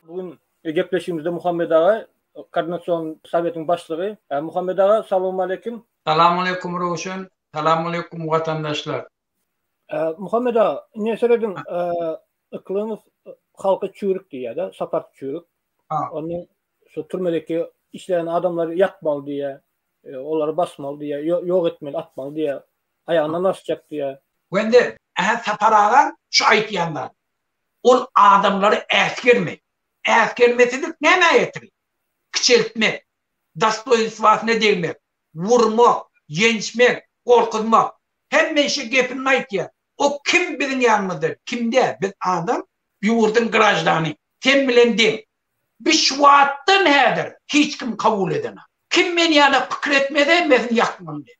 Bu gün gepleşigimizde Muhammet aga, Koordinasion sowetiň başlygy. Muhammet aga, salowmaleýkim. Salowmaleýkim, Röwşen. Salowmaleýkim, watandaşlar. Muhammet aga, ine serediň, Yklymow halky çüwrük diýýär-de, Sapar çüwrük. Onda şu türmedeki işleýän adamlary ýakmaly diýýär, olary basmaly diýýär, ýok etmeli, atmaly diýýär. Aýagyna laş çekdi ýa. Wende, Ähä Sapar aga şu aýtýan zat. Ol adamlary äsgerme. Äsgermesizlik nämä ýetir? Kiçeltmek, dostoýnstwasyna degmek, wurmak, ýençmek, gorkuzmak. Hemme işe gepinni aýtýa. O kim biziň ýanymyzda? Kimdä? Biz adam. Ýurduň graždany. Sen bilen deň. Biz şu wagtdan häzir hiç kim kabul edenok. Kim men ýaly pikir etmese meziň ýakymym däl.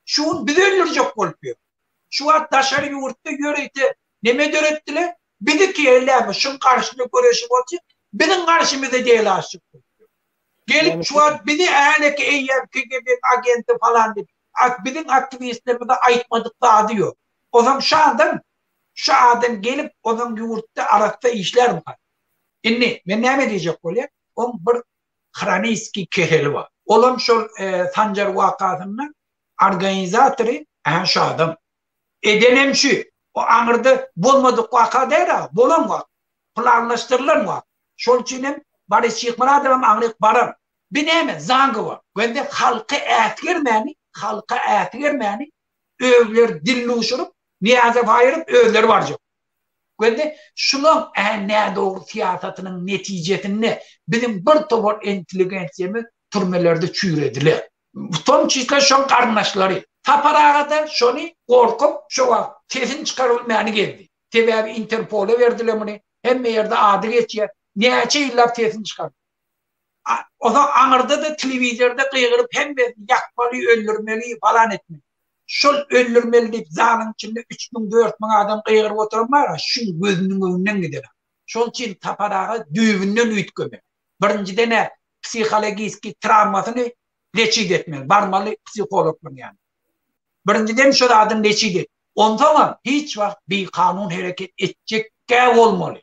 Şu gün bizi öldürjek bolup ýör. Şu wagt daşary ýurtda ýörite neme döretdiler? Bizi KLM şyň garşyda göreşi bolsa, biziň garşymyza delasçyk bolup ýör. Gelip şu wagt bizi häleki eýýäm KGB-niň agenti falan diýip, ak biziň aktiwistlerimize aýtmadyk zady ýok. Ozam şu adam, şu adam gelip ozaň ýurtda arassa işlärmika? Indi men näme diýjek bolýan, oň bir hroniskiý keseli bar. Olam şol Sanjar wakasynda organizatory ähä şu adam. Edenem şu. O aňyrda bolmadyk waka däl-a, bolan waka. Planlaşdyrylan waka. Şol üçin hem Boris Şyhmyradowam aňryk barar. Bu näme? Zangi bar. Göni halka äsgermäni, halka äsgermäni özleri dilluşuryp, Niýazow aýryp özleri barjak. Göni şulaň ä nädogry syýasatynyň netijesinde biziň bir towar intelligensiýamyz türmelerde çüýrediler. W tom çisle şoň garyndaşlary. Sapar aga-da şony gorkup şo wagt sesini çykarybilmäni gezdi. Sebäbi interpola berdiler muny, hemme ýerde ady geçýär. Näçe ýyllap sesini çykarmady. Onsoň aňyrda-da telewizorda gygyryp hemmesini ýakmaly, öldürmeli, falan etmeli. Şol öldürmeli diýip zalyň içinde üç müň, dört müň adam gygyryp oturan bar-a, şu gözüniň öňünden gidene. Şol üçin Sapar aga düýbünden üýtgemeli. Birinjiden-ä psihologiskiý trawmasyny leçit etmeli, barmaly psihologlaryň ýanyna. Birinjiden şo zadyny leçit et. Onsoňam hiç wagt bikanun hereket etjek däl bolmaly.